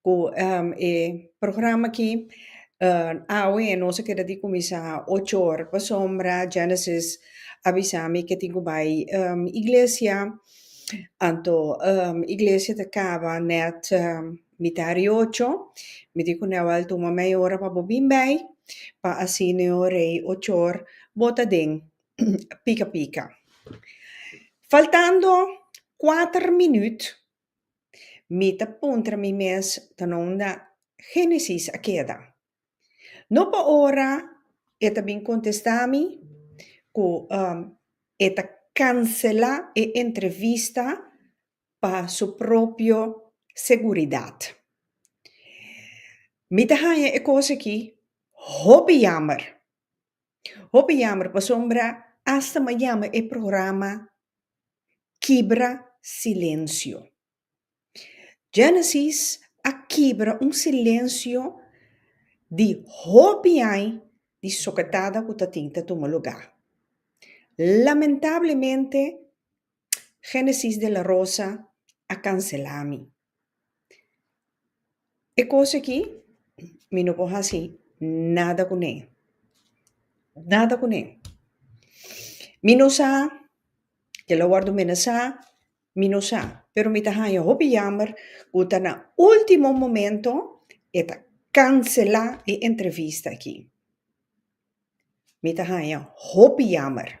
cu e programa aki awe nos a keda di cuminsa ocho or pasobra Genesis a bisa mi ke tin cu bay iglesia anto iglesia ta caba net mita ri ocho mi di cu nel a tuma media ora pa bo bin bay pa asi neo rey ocho or bo ta den pica pica faltando cuater minuut. Mi ta puntra mi mes ta no unda Génesis a keda. No pa ora e ta bin kontestá mi ku e ta kanselá e entrevista pa su propio seguridat. Mi ta haña e kos aki hopi yamber. Hopi yamber pasobra asta m'a yama e programa Kibra Silensio. Genesis a kibra un silensio di hopi ai di soketada ku ta tin ta tuma lugá. Lamentablemente Genesis de la Rosa a cancela mi. E cos aki mi no por haci nada cu ne. Nada cu ne. Mi no sa ke lo wordo mene sa, mi no sa. Pero mi ta hanja hopi jammer cu ta na ultimo momento e ta cancela e entrevista aki. Mi ta hanja hopi jammer.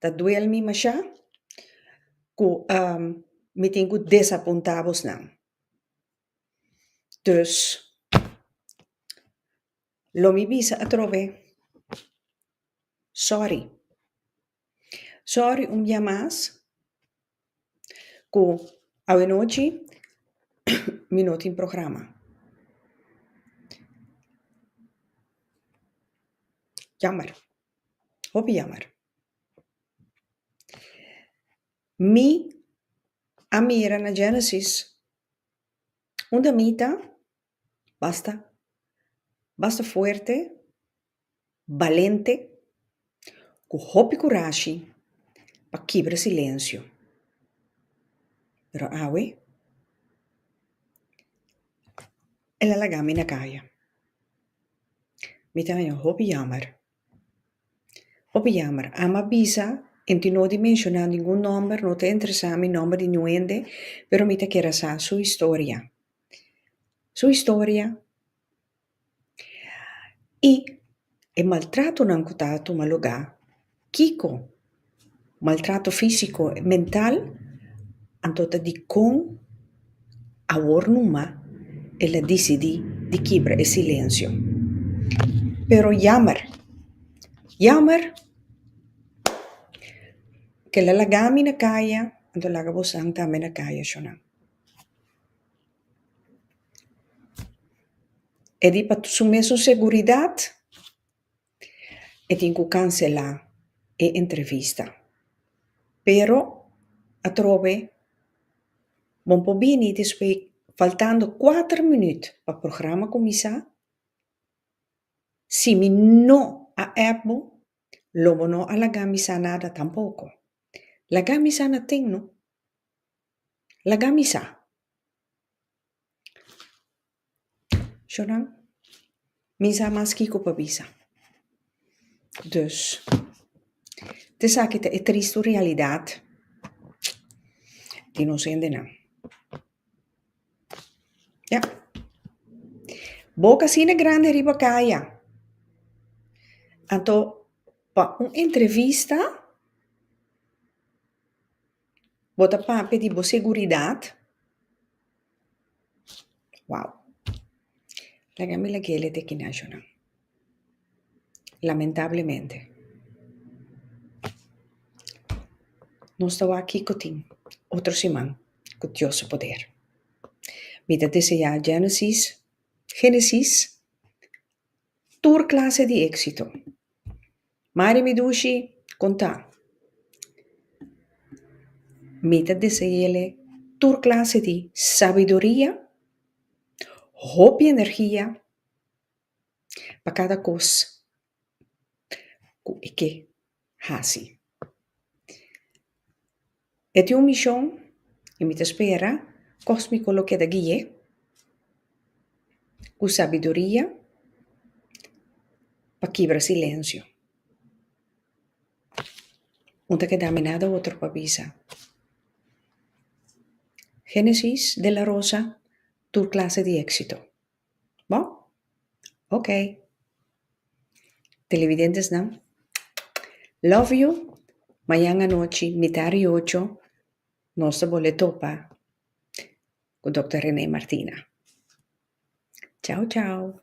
Ta duel mi mashá ku mi tin ku desapuntá abosnan. Dus, lo mi bisa atrobe, sòri. Sòri un bia mas. Cu awenochi mi no tin programa. Jammer. Hopi jammer. Mi a mira na Genesis unda mi ta. Basta. Basta fuerte, balente, cu hopi curashi pa kibra silencio. Pero awe, el a laga mi na caya. Mi ta haña hopi yammer. Hopi yammer. Ama bisa, enti no di menciona ningun nomber, no ta interesa mi nomber di niun hende, pero mi ta kere sa su historia. su historia y e maltratonan cu ta tuma lugar, kico maltrato físico y mental, anto ta dicon awor numa el a dicidi di kibra e silencio. Pero yammer, yammer que el a lagami na caya, anto laga boso tambe na caya, Shunan. E di pa su mesun seguridat, e tin ku kanselá e entrevista. Pero atrobe bo por bini despues faltando kuater minüt pa programa kuminsá. Si mi no a app bo, lo bo no a laga mi sa nada tampoko. Laga mi sa naten, no. Laga mi sa. Sho nan, mi sa mas kiko pa bisa. Dus, ta esaki ta e tristu realidad di nos hendenan. Ya. Bo kasina grandi riba kaya, anto pa un entrevista, Bo ta papia di bo seguridat. Wow. Laga mi lag'é lete aki na ashonan. Lamentablemente. Nos ta wak kiko tin otro siman ku Dios su poder. Mi ta deseá Genesis, Génesis. Tur clase di éxito. Mari mi dushi contá. Mi ta deseele tur clase di sabiduria, hopi energia pa cada cos cu e ke. hasi. E tin un mishon y mi ta spera cosmico lo keda guie cu sabiduria pa kibra silencio. Un ta keda miná de otro pa bisa. Genesis de la Rosa tur clase di exito. Bo? Ok. Televidentesnan, love you. Mañan anochi mitad di ocho nos ta bolé topa cu Doctor Renee Martina. Chao chao.